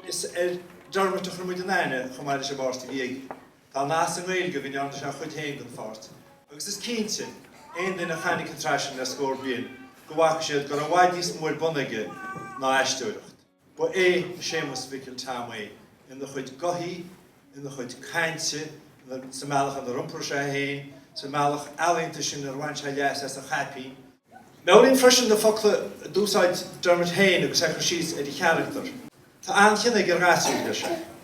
Is ar Dermot a chuir muid an aithne, chomh maith leis an bpáirt a bhí aige. Tá nath sa nGaeilge go ndearna sé a chuid féin den pháirt, agus is cinnte, aon duine a chonaic an tsraith sin le scór bliain, go bhfaca siad go raibh i bhfad níos mó ar bun aige ná aisteoireacht. Ba é Séamus Mhicil Tom é ina chuid gothaí, ina chuid cainte, sa mbealach inar iompar sé é féin, sa mbealach ealaíonta sin inar bhain sé leas as a chaipín. Meabhraím freisin na focla a d'úsáid Dermot féin agus é ag cur síos ar a charachtar, 'Tá an-chion aige ar ghasúir', deir sé.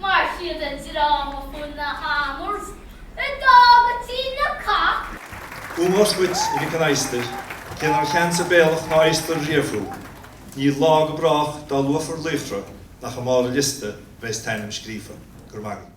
Mar chuid den dráma Fuil na Hammers, a d'fhág go Tír na Cac, Ómós dhuit, a Mhic an Adhastair, cé nár cheansaigh béalbhach ná adhastar riamh thú, níl lá go brách dá luafar laochra nach i mbarr an liosta bheas t'ainm scríofa. Go raibh maith agat.